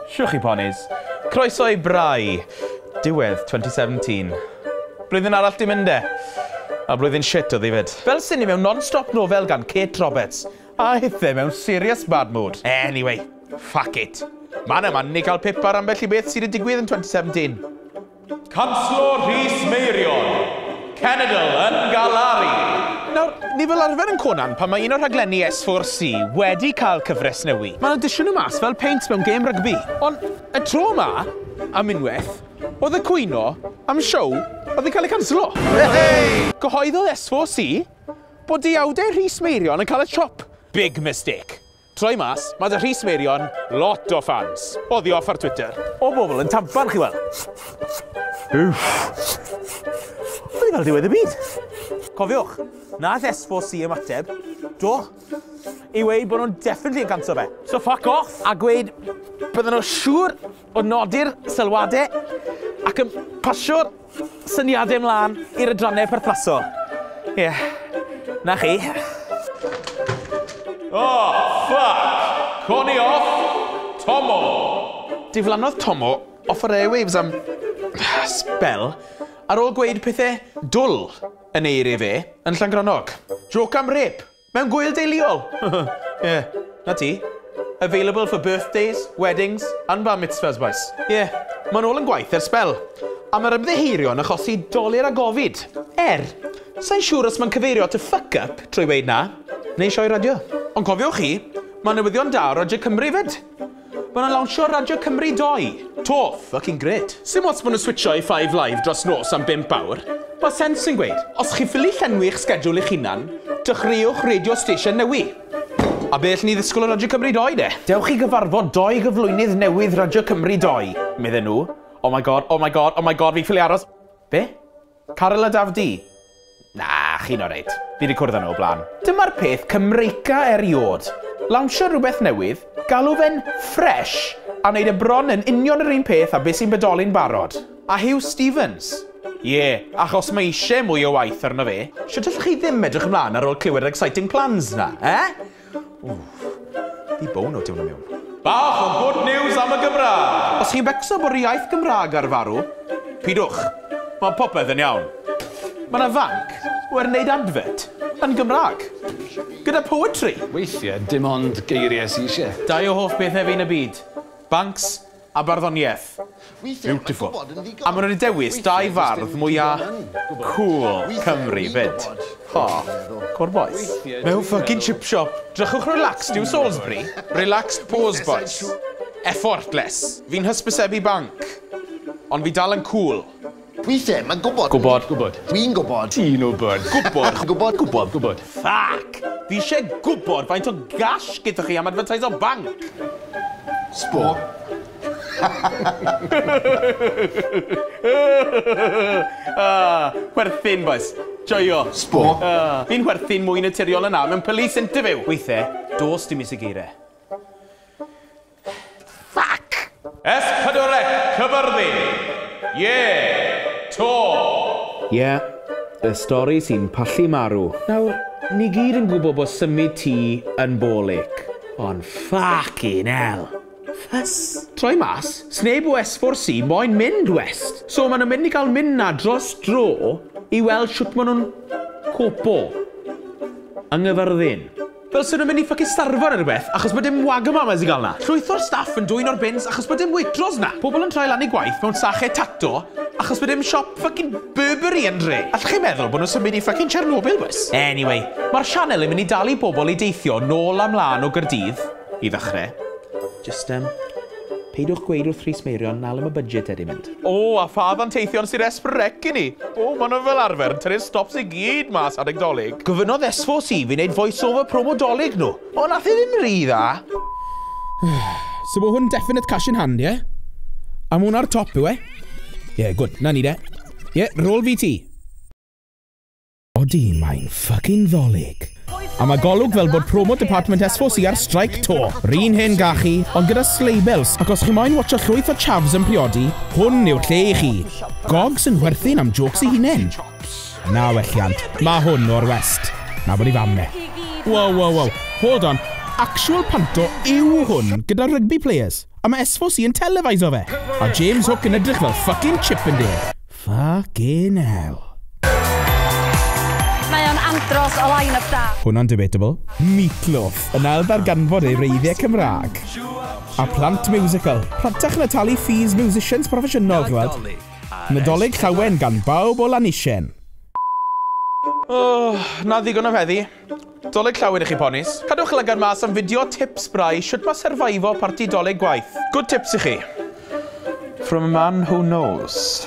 Shwch chi ponis. Croeso i Bry. Diwedd 2017. Blwyddyn arall di mynd e. A blwyddyn shit oedd hi fyd. Fel sini mewn non-stop nofel gan Kate Roberts. A hithe mewn serious bad mood. Anyway, fuck it. Mae'n yma ni cael pip ar ambell i beth sydd wedi digwydd yn 2017. Canslor Rhys Meirion, cenedl yn galaru! Nawr, ni fel arfer yn Conan pan mae un o'r rhaglenni S4C wedi cael cyfres newy. Maen nhw'n dishio nhw mas fel peint mewn gêm rygbi. Ond y tro ma, am unwaith, oedd y cwyno am siow oedd yn cael ei canslo. Yehey! Cyhoeddodd S4C bod deuawdau Rhys Meirion yn cael y chop. Big mistake. Troi mas, mae 'da Rhys Meirion lot o ffans. Oddi off ar Twitter. O bobl yn tampan chi wel. Uff. Wedi fel diwedd y byd. Cofiwch, nath S4C ymateb, do, i weud bod nhw'n definitely yn canso fe. So fuck off! A gweud bydden nhw siŵr o nodi'r sylwadau ac yn pasio'r syniadau mlaen i'r adrannau perthnasol. Ie, yeah. na chi. Oh, fuck! Coni off, Tomo! Diflannodd Tomo off yr airwaves am spel ar ôl gweud pethau dwl yn ei eiriau fe yn Llangrannog. Joc am rêp, Mewn gŵyl deuluol! Ie, 'na ti. Available for birthdays, weddings and bar mitzvahs bois. Ie, ma'n ôl yn gwaith ers sbel. A ma'r ymddiheurio'n achosi dolur a gofid. Er, sai'n siŵr os ma'n cyfeirio at y fuck up trwy weud 'na, neu sioe radio. Ond cofiwch chi, ma' newyddion da o Radio Cymru 'fyd. Ma' nhw'n lawnsio Radio Cymru doi! To! Fucking grêt! Sim ots bod nhw'n switsio i Five Live dros nos am bump awr, ma' Sense yn gweud, os chi'n ffili llenwi'ch sgedwl eich hunan, dechreuwch radio station newi'. A be' all ni ddisgwl o Radio Cymru doi de? Dewch i gyfarfod doi gyflwynydd newydd Radio Cymru doi, medden nhw. Oh my God, oh my God, oh my God, fi'n ffili aros. Be? Caryl a Daf Du? Na, chi'n oreit. Fi wedi cwrdd â nhw o blaen. Dyma'r peth Cymreica eriod. Lawnsio rhywbeth newydd, galw fe'n fresh, a wneud e bron yn union yr un peth a beth sy'n bodoli'n barod. A Huw Stephens? Ie, achos mae eisiau mwy o waith arno fe. Shwt allwch chi ddim edrych ymlaen ar ôl clywed yr exciting plans 'na, eh? Ww. Di bown o tiwno miwn. Bach o good news am y Gymraeg! Os chi'n becso bod yr iaith Gymraeg ar farw, pidwch. Mae popeth yn iawn. Mae yna fanc o er wneud adfert yn Gymraeg. Gyda poetry! Weithiau dim ond geiriau sy isie. Dau o hoff bethau fi yn y byd. Banks A barddoniaeth. Beautiful. A ma' nhw 'di dewis dau fardd mwya cŵl Cymru 'fyd. O, cŵl bois. Mewn ffycin chip shop. Drychwch relaxed yw Salisbury. Relaxed pose bois. Effortless. Fi'n hysbysebu banc. Ond fi dal yn cŵl. Wi ddim yn gwybod. Gwybod. Gwybod. Wi'n gwybod. Ti'n wybod. Gwybod. Gwybod. Gwybod. Gwybod. Fuck! Fi isie gwybod faint o gash gyda chi am advertise o banc! Sbo. Ah, chwerthin, bois. Joio. Sbo. Ah, fi'n chwerthin mwy naturiol yn nawr mewn police interview. Weithe, dos dim is y geire. Fuck! S4C Cyfyrddin! Ie! Tor! Ie, y stori sy'n pallu marw. Nawr, ni gyd yn gwybod bod symud tŷ yn ball ache, ond ffycin hell! Ffys! Troi mas, sneb o S4C moyn mynd west, so maen nhw'n mynd i gael mynd 'na dros dro i weld shwt maen nhw'n copo. Yng Nghyfyrddin. Fel swn nhw'n mynd i ffycin starfo neu rhywbeth, achos bod dim wagamamas i gael 'na. Llwyth o'r staff yn dwyn o'r bins achos bod dim waitrose 'na. Pobl yn troi lan eu gwaith mewn sachet tato achos bod dim siop ffycin Burberry yn dre. Allwch chi meddwl bod nhw'n symud i ffycin Chernobyl bois? Anyway, mae'r sianel yn mynd i dalu bobl i deithio nôl a mlân o Gaerdydd, i ddechrau. Jyst yym... Peidiwch gweud wrth Rhys Meirion na le mae budget e 'di mynd. O, a pha ddanteithion sydd es frec i ni! O, maen nhw fel arfer yn tynnu'r stops i gyd mas adeg Dolig. Gofynnodd SVC fi wneud voice over promo Dolig nhw, ond nath e ddim rhy dda. So ma hwn definite cash in hand, ie? A ma hwn ar top, yw e? Ie, gwd, 'na ni de. Ie, rôl fi ti. Odi, mae'n ffycin Ddolig! A ma golwg fel bod promo department S4C ar streic to. R'un hen gachu, ond gyda sleibels, ac os chi moyn watsio llwyth o chavs yn priodi, hwn yw'r lle i chi. Gogs yn nhwerthin am jôcs ei hunen. Na welliant, ma hwn o'r west. Na bod ei fam e. Wow wow wow, hold on, actual panto yw hwn gyda rugby players, a ma S4C yn televiso fe! A James Hook yn edrych fel ffycin chip yn de. Fucking hell. Mae o'n andros o line-up da. Hwnna'n debatable. Meatloaf yn ail ddarganfod ei wreiddiau Cymraeg. A plant musical. Rhatach na talu fees musicians proffesiynol, chi weld. Nadolig Llawen gan bawb o Lanisien. Oh, 'na ddigon am heddi. Dolig llawen i chi ponis. Cadwch lygad mas am fideo tips brau shwt ma surviveio parti dolig gwaith. Good tips i chi. From a man who knows.